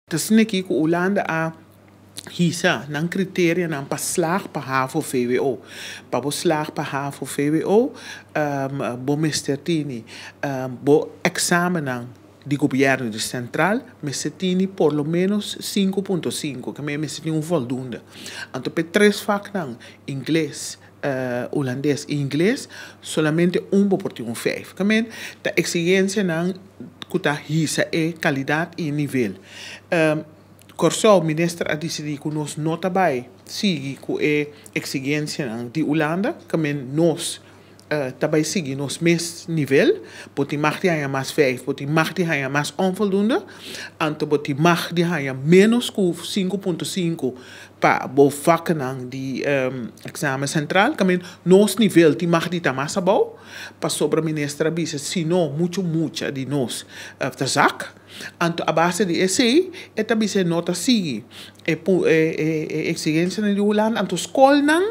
Ta asina aki ku Hulanda a hisa nan kriterianan pa slag pa havo-vwo. Pa bo slag pa havo-vwo bo mester tini bo eksamennan di gobièrnu, di sentral, mester tini por lo ménos sinku punto sinku, ke mester tin un vòldunde. Anto p'e tres vaknan, Ingles, Hulandes i Ingles, solamente un bo por tin un vijf. Ta men ta exigencianan cu ta hisa e calidad i e nivel. Corsou, minister a dicidi cu nos no ta bay sigui cu e exigencianan di Hulanda, ta men nos ta bay sigui nos mes nivel. Bo tin mag di haya mas vijf, bo tin mag di haya mas onvoldoende, anto bo tin mag di haya menos cu sinku punto sinku. Pa bo vaknan di examen central ta men nos nivel tin mag di ta mas abou pasobra minister a bisa si no mucho mucha di nos ta zak anto a base di esey e ta bisa e no ta sigui e exigencianan di Hulanda anto scolnan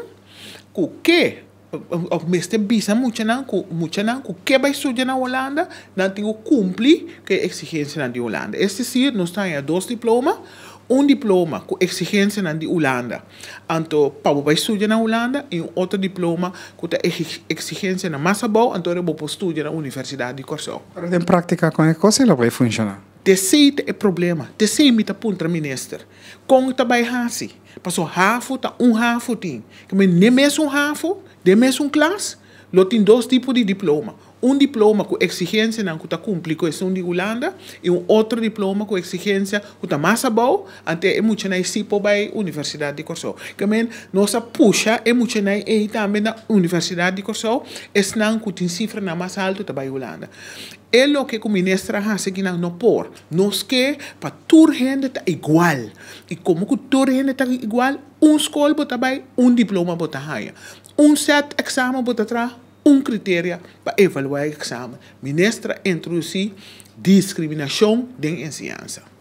cu ke Bo mester bisa muchanan ku muchanan ku ke bai studia na Holanda, nan tin ku kumpli ku e eksigensianan di Holanda. Es desir, nos ta haña dos diploma, un diploma ku eksigensianan di Holanda, anto pa bo bai studia na Holanda, i un otro diploma ku ta eksigensianan mas abou, anto bo por studia na Universidat di Kòrsou. Ora den praktika, kon e kos e lo bai funshoná? Te esei ta e problema, te esei mi ta puntra minister. Kon ta bai hasi? Paso hafu ta un hafu tin. Kome n'e mesun hafu, den mesun klas, lo tin dos tipo di diploma. Un diploma ku eksigensianan ku ta kumpli ku esun di Hulanda i un otro diploma ku eksigensia ku ta mas abou antes e muchanan ei si por bai Universidat di Kòrsou. Kome nos a pusha e muchanan ei tambe na Universidat di Kòrsou, esnan ku tin sifranan mas altu ta bai Hulanda. E loke ku Minister a hasi aki nan no por. Nos ke pa tur hende ta igual. I komo ku tur hende ta igual, un skol bo ta bai, un diploma bo ta haña. Un sèt eksamen bo ta traha, un kriteria pa evaluá e eksamen. Minister a introdusí diskriminashon den enseñansa.